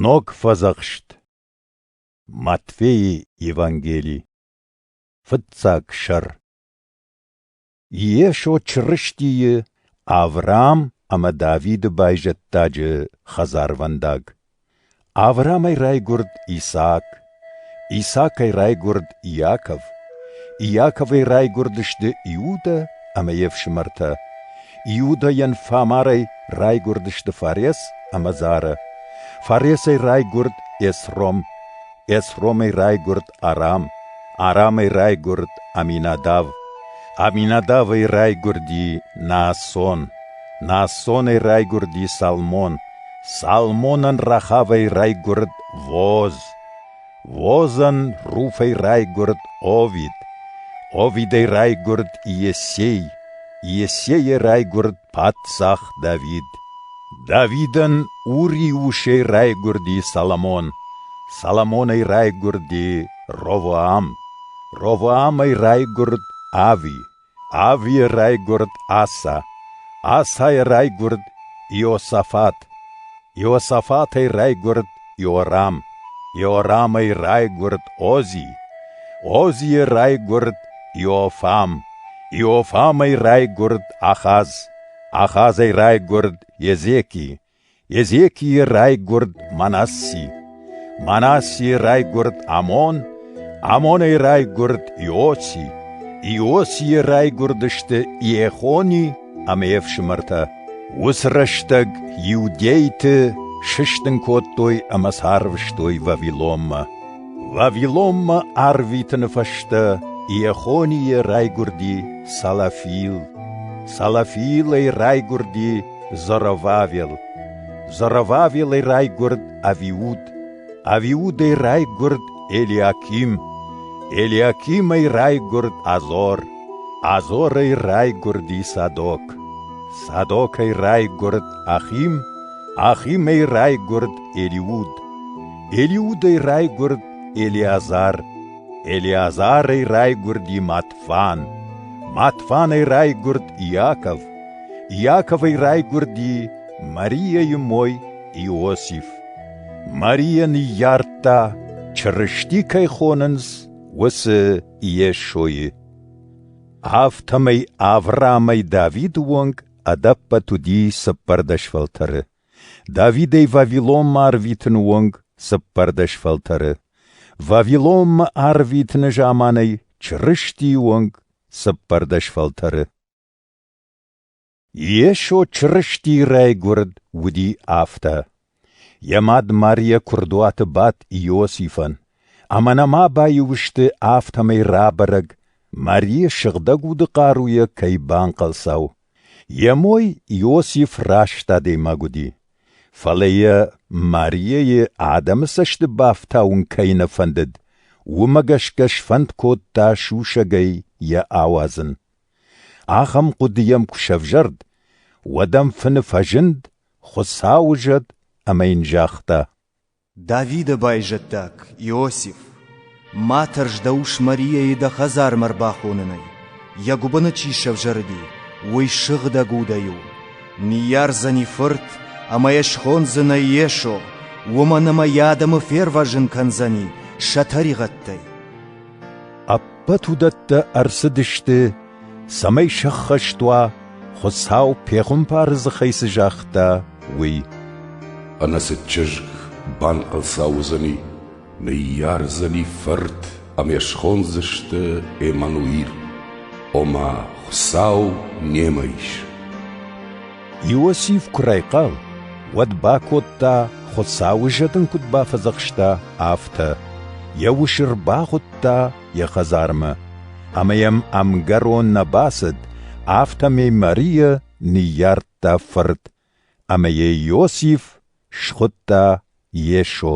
Ног фӕдзӕхст Матфеи Евангели Фыццаг сӕр Йесо Чырыстийы Авраам ӕмӕ Давиды байзӕддаджы хӕдзарвӕндаг. Авраамӕй райгуырд Исаак, Исакӕй райгуырд Иаков. Иаковӕй райгуырдысты Иудӕ ӕмӕ йе фсымӕртӕ. Иудӕйӕн фамарӕй райгуырдысты Фарес ӕмӕ Зарӕ. Фаресӕй райгуырд Эсром. Эсромӕй райгуырд Арам. Арамӕй райгуырд Аминадав. Аминадавӕй райгуырди Наасон. Наасонӕй райгуырди Салмон. Салмонӕн рӕхавӕй райгуырд Воз, Возӕн руфӕй райгуырд Овид, Овидӕй райгуырд Иесей, Иесейӕ райгуырд паддзах Давид. Давидӕн Ури-усӕй райгуырди Соломон, Соломонӕй райгуырди Ровоам, Ровоамӕй райгуырд Ави. Ӕви райгуырд Аса? Асайӕ райгуырд Иосафат. Иосафатӕй райгуырд Иорам. Иорамӕй райгуырд Ози. Озийӕ райгуырд Иофам. Иофамӕй райгуырд Ахаз. Ахазӕй райгуырд Езеки. Езекийы райгуырд Манасси, Манассийы райгуырд Амон, Амонӕй райгуырд Иоси, Иосийы райгуырдысты Иехони ӕмӕ йе фсымӕртӕ. Уыцы рӕстӕг иудейты сыстын кодтой ӕмӕ сӕ арвыстой Вавилонмӕ. Вавилонмӕ арвитыны фӕстӕ Иехонийы райгуырди Салафил, Салафил ӕй райгуырди Зоровавел Зоровавелӕй райгуырд Авиуд, Авиудӕй райгуырд Елиаким, Елиакимӕй райгуырд Азор, Азорӕй райгуырд и Садок, Садокӕй райгуырд Ахим, Ахимӕй райгуырд Елиуд, Елиудӕй райгуырд Елиазар, Елиазарӕй райгуырд и Матфан, Матфанӕй райгуырд Иаков, Иаковӕй райгуырди Марийӕйы мой Иосиф. Марийӕ ныййардта, Чырысти кӕй хонынц, уыцы Йесойы. Афтӕмӕй Авраамӕй Давиды онг ӕдӕппӕт уыди цыппӕрдӕс фӕлтӕры. Давидӕй Вавилонмӕ арвитыны онг цыппӕрдӕс фӕлтӕры. Вавилонмӕ арвитыны заманӕй Чырыстийы онг цыппӕрдӕс фӕлтӕры. Йесо Чырыстийы райгуырд уыди афтӕ. Йӕ мад Марийӕ куырдуаты бадт Иосифӕн, ӕмӕ нӕма баиу сты, афтӕмӕй рабӕрӕг, Марийы сыгъдӕг уды хъаруйӕ кӕй банхъӕлцау. Йӕ мой Иосиф раст адӕймаг уыди, фӕлӕ йӕ Марийӕйы адӕмы цӕсты бафтауын кӕй нӕ фӕндыд, уымӕ гӕсгӕ сфӕнд кодта сусӕгӕй йӕ ауадзын. Ахӕм хъуыды йӕм куы сӕвзӕрд, уӕд ӕм фыны фӕзынд, Хуыцауы зӕд, ӕмӕ йын загъта: Давиды байзӕддаг, Иосиф, ма тӕрс дӕ ус Марияйы дӕ хӕдзармӕ ӕрбахонынӕй. Йӕ гуыбыны чи сӕвзӕрди, уый сыгъдӕг удӕй у. Ныййардзӕни фырт ӕмӕ йӕ схондзынӕ Йесо, уымӕн ӕмӕ йӕ адӕмы фервӕзын кӕндзӕни сӕ тӕригъӕдтӕй. Ӕппӕт уыдӕттӕ ӕрцыдысты, цӕмӕй сӕххӕст уа, Хуыцау пехуымпары дзыхӕй цы загъта, уый. Ӕнӕцыд чызг банхъӕлцау уыдзӕни, ныййардзӕни фырт ӕмӕ схондзысты Эммануил, ома Хуыцау немӕ ис. Иосиф куы райхъал, уӕд бакодта, Хуыцауы зӕдын куыд бафӕдзӕхста, афтӕ. Йӕ ус ӕрбахуыдта йӕ хӕдзармӕ, ӕмӕ йӕм ӕмгӕрон нӕ бацыд, афтӕмӕй Марийӕ ныййардта фырт, ӕмӕ йӕ Иосиф схуыдта Йесо.